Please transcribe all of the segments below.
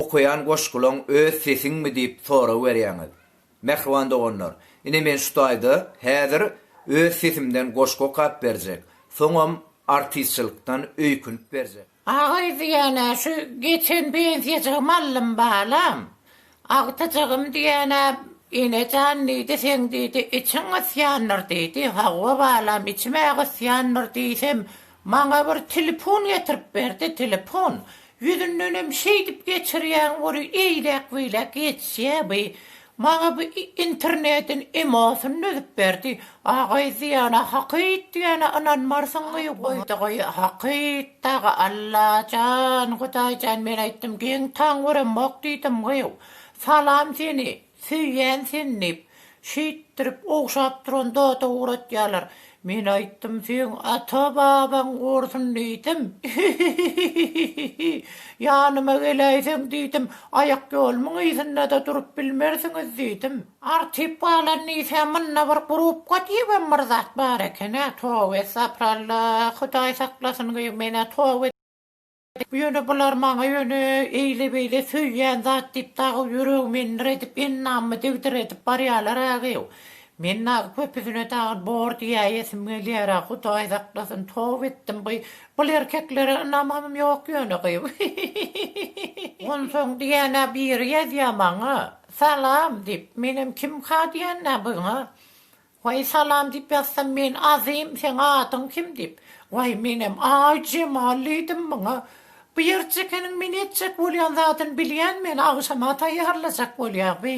Okaýan goşgulaň öz sesiňmi diýip sorag berýäňiz. Mähriban doganlar, ine men şu taýda häzir öz sesimden goşgy okap berjek, soňam artistçilikden öýkünip berjek. Agaý diýýän-ä şu geçen bensiýajygym aldym balam. Agtyjygym diýýän-ä Ene jan diýdi, seň diýdi, içiň gysýandyr diýdi. Hawa balam, içim-ä gysýandyr diýsem, Maňa bir telefon getirip berdi, telefon. Ýüzündenem şeýdip geçirýäň ory eýläk-beýläk geçýä bi. Maňa bi internediň emosyny düzüp berdi. Agaý diýana hakyt diýana ynanmarsyňmy goýdugy hakyt dagy Allajan Hudaýjan men aýtdym geň taň göremok diýdimgy salam seni Söýýän seni diýip, şeýtdirip ogşap duran zada ugratýarlar. Men aýtdym seň ata-babaň gursyn diýdim. Hihihihihi. Ýanyma geläýseň diýdim, aýakýolumyň yzynda-da durup bilmersiňiz diýdim. Artyp galan diýsä munda bir grupka diýibem bir zat bar eken-ä, toba essapralla, hudaý saklasyn gyýw men-ä toba. Ýöne bular maňa ýöne eýle-beýle söýýän zat diýip dagy ýüregimi endir edip, ennamymy degdir edip barýalar-agew. Men dagy köpüsine dagy bor diýäýesim gelýär-ä, Hudaý saklasyn, toba etdim gyý. Bul erkeklere ynamym ýok ýöne gyý. Hihihihihihi. Onsoň diýýän-ä biri ýazýar maňa, Salam! diýip, menem kimka diýýän-ä buňa. Waý salam diýip ýazsam men Azym seň adyň kim diýip waý menem aý Jemal diýdim muňa bu ýerjekeniň men etjek bolýan zadyny bilýän meni agşama taýýarlajak bolýa bi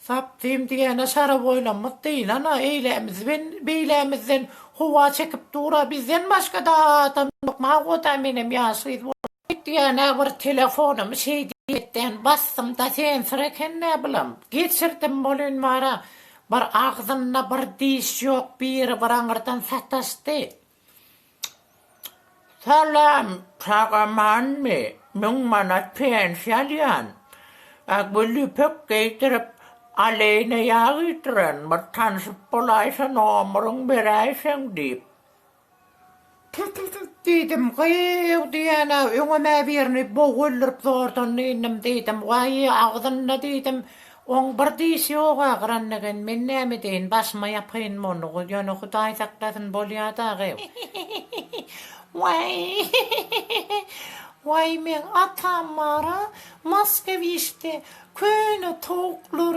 zapdym diýene şaraboýlamyz dyýlana eýlämiz ben beýlämizden howa çekip dura bizden başgada adam ýok magoda menem ýaş gyz bolup Hut ýene bir telefonumy şeý diýmekden basdym-da sensir eken näbilim, geçirdim bolun bara, bir agzynda bir diş ýok biri bir aňyrdan sataşdy. Salam, sag amanmy, müň manat pensiýa alýan, a gül ýüpek geýdirip, aleýne ýag iýdiren bir tanşyp bolaýsa nomeriň beräýseň diýip. Tut-tut-tut! diýdim. Gyýw! diýen-ä, öňem-ä birini bogy öldürip zordan dynnym, diýdim. Waý, agzynda, diýdim, oň bir dişi ýog-a, gyran eken. Men näme edeýin, başyma ýapaýyn monlugy. Ýöne Hudaý saklasyn, bolýa dagy. Waý, waý, meň atam bar-a, Moskowişde köne towuklar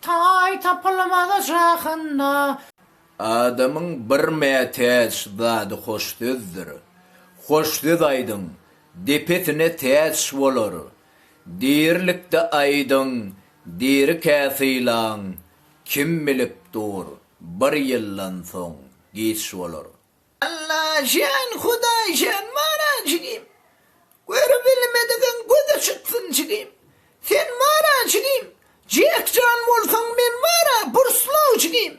Taý tapylmaz jahanda. Adamyň bir mätäç zady hoş sözdür. Hoş söz aýdyň, depesine täç bolar. Dirilikde aýdyň, dirikä sylaň, kim bilip dur, bir ýyldan soň giç bolar. Allajan Hudaýjan bara jigim Görübilmedigiň göze çytsyn jigim Sen bara jigim Jekjan bolsaň men bara Burslaw jigim.